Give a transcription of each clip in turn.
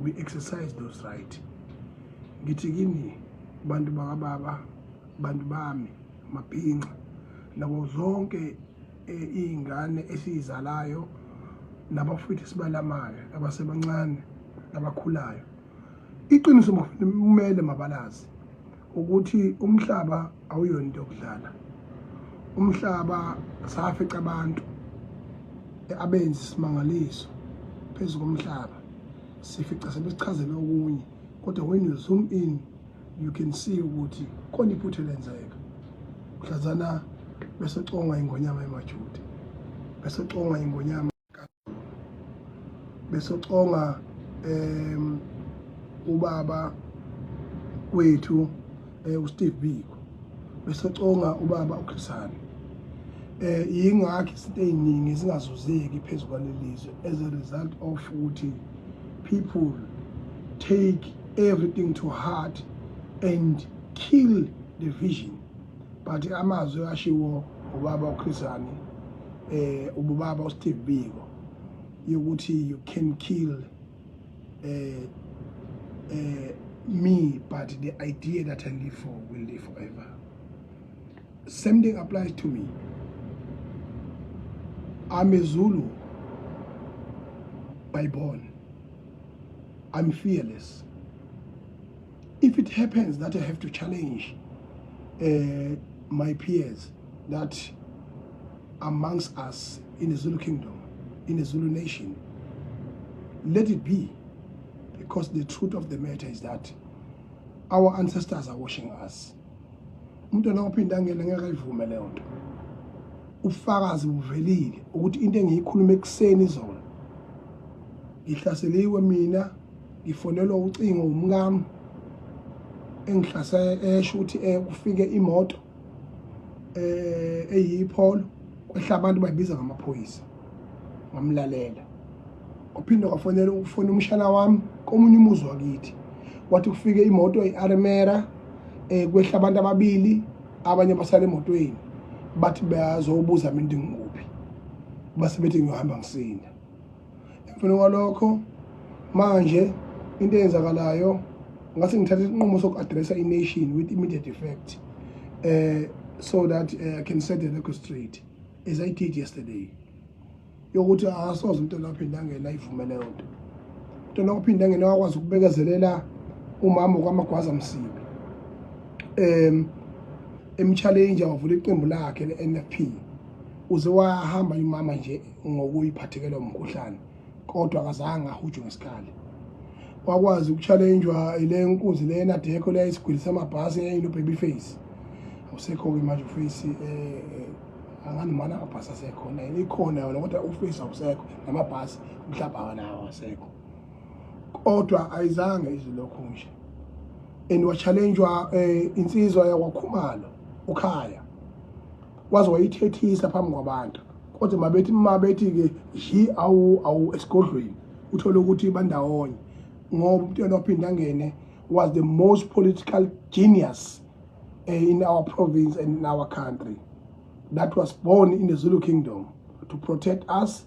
we exercise those right ngithi kini bantu bakababa bantu bami mabhinqa nabo zonke eh, iy'ngane esiyizalayo nabafowethu esibalamayo abasebancane abakhulayo iqiniso kumele mabalazi ukuthi umhlaba awuyona into yokudlala umhlaba safica abantu abenzi isimangaliso phezu komhlaba sifica sebesichazele okunye kodwa when you zoom in you can see ukuthi khona iphutha elenzeka mhlazana besecongwa ingonyama emajude besecongwa ingonyama besoconga um ubaba kwethu eh, uSteve Biko besoconga ubaba uKhrisani eh yingakho izinto eziningi zingazuzeki phezulu kwalelizwe as a result of ukuthi people take everything to heart and kill the vision but amazwi ashiwo ubaba uChrisani eh ubaba uSteve Biko yokuthi you can kill eh eh me but the idea that I live for will live forever same thing applies to me I'm a Zulu by born I'm fearless if it happens that i have to challenge uh, my peers that amongst us in the zulu kingdom in the zulu nation let it be because the truth of the matter is that our ancestors are washing us umntwana ophinde angele ngeke ayivume leyo nto ufakazi buvelile ukuthi into engiyikhuluma ekuseni izona ngihlaseliwe mina ngifonelwa ucingo umkami engihlase esho ukuthi eh kufike imoto eh eyipholo kwehla abantu bayibiza ngamaphoyisa ngamlalela kwaphinde kwafonela ukufona umshana wami komunye umuzi wakithi wathi kufike imoto i-armera eh kwehla abantu ababili abanye basale emotweni bathi bayazobuza mina ngikuphi base bethi ngiyohamba ngisinda emveni kwalokho manje into eyenzakalayo ngathi ngithatha isinqumo soku-addressa i-nation with immediate effect uh, so that uh, i can set the record straight as i did yesterday yokuthi akasoze umntwana waphinde angene ayivume leyo nto umntwana waphinde angene wakwazi ukubekezelela umama kwamagwaza msibi um emchallenge wavula iqembu lakhe le-n f p uze wahamba imama nje ngokuyiphathekela umkhuhlane kodwa akazange ahujwe ngesikhali wakwazi ukutshalenjwa ile nkunzi le enadekho le isigwili samabhasi eyayilo baby face awusekho-ke manje uface um eh, eh, anganimana amabhasi asekhona yena ikhona yona kodwa uface awusekho namabhasi mhlawumbe akanawo asekho kodwa ayizange izwi lokhu nje and watshalenjwa um eh, insizwa yakwakhumalo ukhaya waze wayithethisa phambi kwabantu kodwa mabethi mabethi-ke yi awu awu esigodlweni uthole ukuthi bandawonye ngoba umuntu yena waphinde angene was the most political genius eh, in our province and in our country that was born in the zulu kingdom to protect us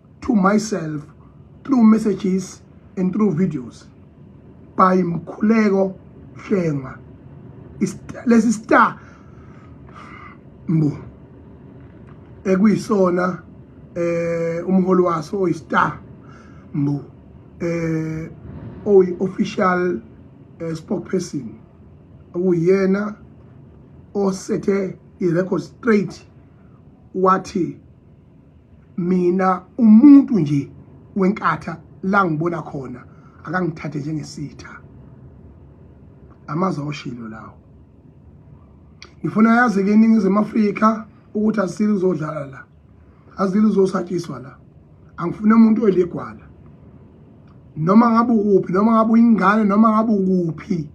to myself through messages and through videos by Mkhuleko Shengwa. Lesi star mbu ekuyisona eh umholi waso oyistar mbu eh oyi official eh, spokesperson okuyena osethe i-record straight wathi mina umuntu nje wenkatha la ngibona khona akangithathe njengesitha amazwi awushilo lawo ngifuna yazi ke iningizimu afrika ukuthi asile uzodlala la azile uzosatshiswa la angifune umuntu oyiligwala noma ngabe ukuphi noma ngabe uyingane noma ngabe ukuphi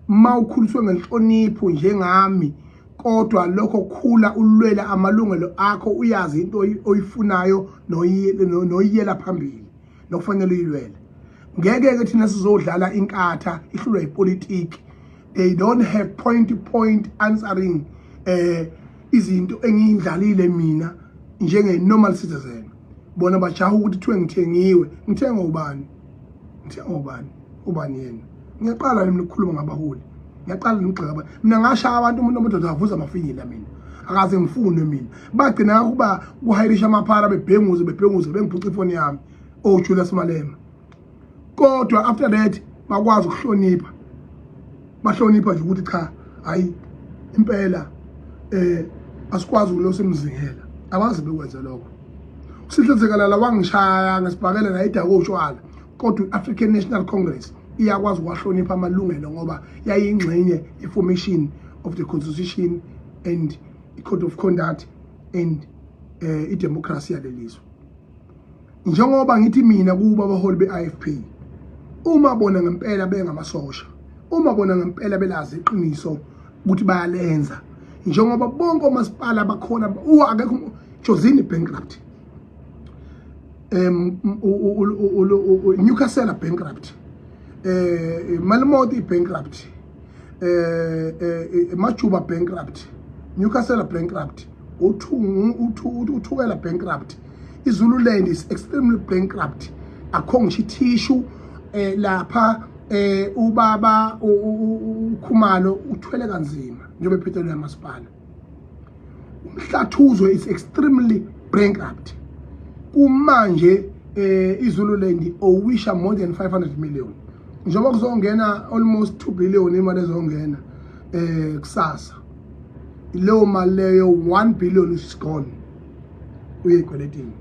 uma ukhuliswe ngenhlonipho njengami kodwa lokho khula ulwela amalungelo akho uyazi into oyifunayo noyiyela phambili nokufanele uyilwele ngeke-ke thina sizodlala inkatha ihlulwa yipolitiki they don't have point to point answering um izinto engiyidlalile mina njenge-normal citizen bona bajaha ukuthi kuthiwe ngithengiwe ngithenga ubani ngithenga ubani ubani yena ngiyaqala nami ukukhuluma ngabaholi ngiyaqala nokugxeka abantu mina ngashaya abantu umuntu omudoda avuza amafinyila mina akaze ngifunwe mina bagcina ukuba kuhayirisha amaphara bebhenguze bebhenguze bengiphuca ifoni yami o oh, Julius Malema kodwa after that bakwazi ukuhlonipha bahlonipha nje ukuthi cha hayi impela eh asikwazi ukulosa imzingela abazi bekwenze lokho usihle zekalala wangishaya ngesibhakele la idako utshwala kodwa i-african national congress iyakwazi ukuwahlonipha amalungelo ngoba yayingxenye ye-formation of the constitution and i-code of conduct and um uh, idemocracy yalelizwe njengoba ngithi mina kuba abaholi be-ifp uma bona ngempela bengamasosha uma bona ngempela belazi iqiniso ukuthi bayalenza njengoba bonke omasipala bakhona akekho jozini bankrupt um newcastle bankrupt um eh, malimoti bankrupt eh, eh, eh majuba bankrupt newcastle bankrupt uthukela bankrupt izululand is extremely bankrupt akho ngisho ithishu um eh, lapha um ubaba ukhumalo uthwele kanzima njengoba ephethelwe yamasipala umhlathuzo is extremely bankrupt kumanje eh iZululand owisha more than 500 million njengoba kuzongena almost 2 billion imali ezongena eh kusasa leyo mali leyo 1 billion is gone uyekweletini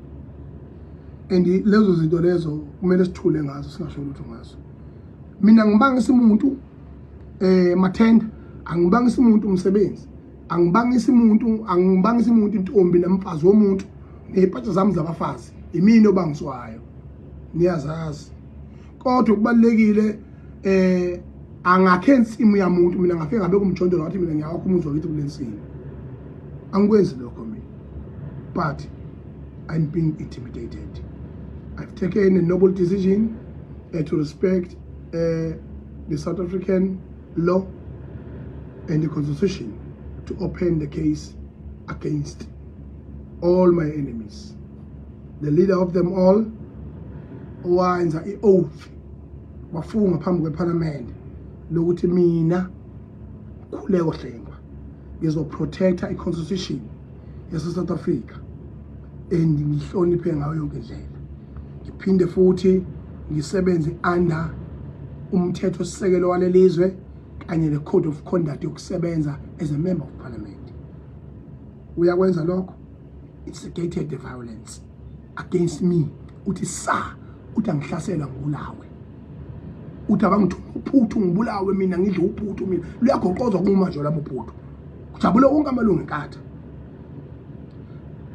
and lezo zinto lezo kumele sithule ngazo singasho lutho ngazo mina ngibanga isimuntu eh mathenda angibangisi umuntu umsebenzi angibangisi umuntu angibangisi umuntu intombi namfazi womuntu nezipatsha zami zabafazi imini obangiswayo niyazazi kodwa kubalekile eh angakhe insimu yamuntu mina ngafike ngabe kumjondolo wathi mina ngiyawakho umuzi wakithi kulensimu angikwenzi lokho mina but i'm being intimidated i've taken a noble decision uh, to respect uh, the South African law and the constitution to open the case against all my enemies. The leader of them all, owenza i-oath wafunga phambi kwePhalamende lokuthi mina Khuleko Hlengwa ngizoprotecta i-constitution yase-South Africa and ngihloniphe ngayo yonke indlela ngiphinde futhi ngisebenze under umthetho sisekelo walelizwe kanye ne code of conduct yokusebenza as a member of parliament uyakwenza lokho instigated the violence against me uthi sa uthi angihlasela ngulawe uthi abangithu uphuthu ngibulawe mina ngidle uphuthu mina luyagoqozwa kuma nje labo phuthu kujabule wonke amalungu enkatha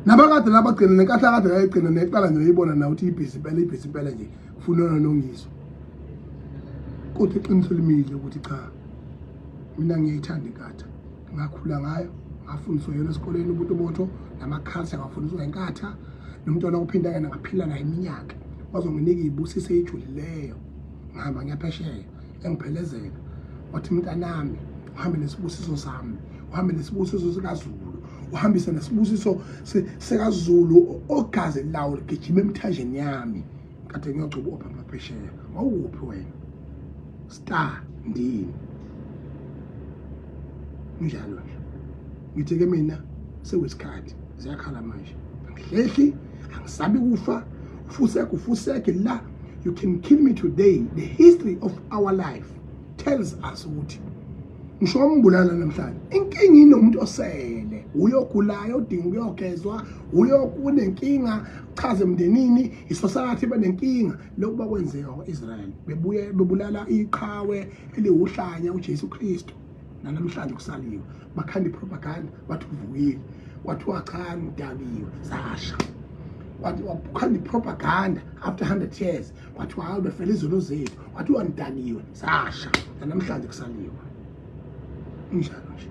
nabakade laba gcina nenkahla kade ngayigcina neqala nje uyibona na ukuthi ibhizi impela ibhizi impela nje kufunona nongiso kodwa iqiniso limile ukuthi cha mina ngiyayithanda inkatha ngakhula ngayo ngafundiswa yona esikoleni umuntu botho namakhalsi angafundiswa inkatha nomntwana ophinda yena ngaphila naye iminyaka wazonginika iyibusise ejulileyo ngihamba ngiyaphesheya engiphelezela wathi mntanami uhambe nesibusiso sami uhambe nesibusiso sikazulu uhambise nesibusiso sikazulu ogazi lawo ligijima emthanjeni yami kade ngiyogcuba ophapha phesheya wawuphi wena star ndini njalo nje ngithi ke mina sewesikhathi ziyakhala manje angihlehli angisabi kufa ufuseke ufuseke la you can kill me today the history of our life tells us ukuthi ngisho wambulala namhlanje inkinga inomuntu osele uyogulayo udinga ukuyogezwa uyokunenkinga chaze emndenini isosakathi benenkinga lokhu bakwenzeka kwa-israyeli bebuye bebulala iqhawe eliwuhlanya ujesu kristu nanamhlanje kusaliwe bakhanda ipropaganda bathi uvukile kwathiwa cha ngidakiwe sasha wathi wakhanda ipropaganda after 100 years kwathiwa hayi befela izono zethu kwathiwa ngidakiwe sasha namhlanje kusaliwe injalo nje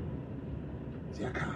ziyakhala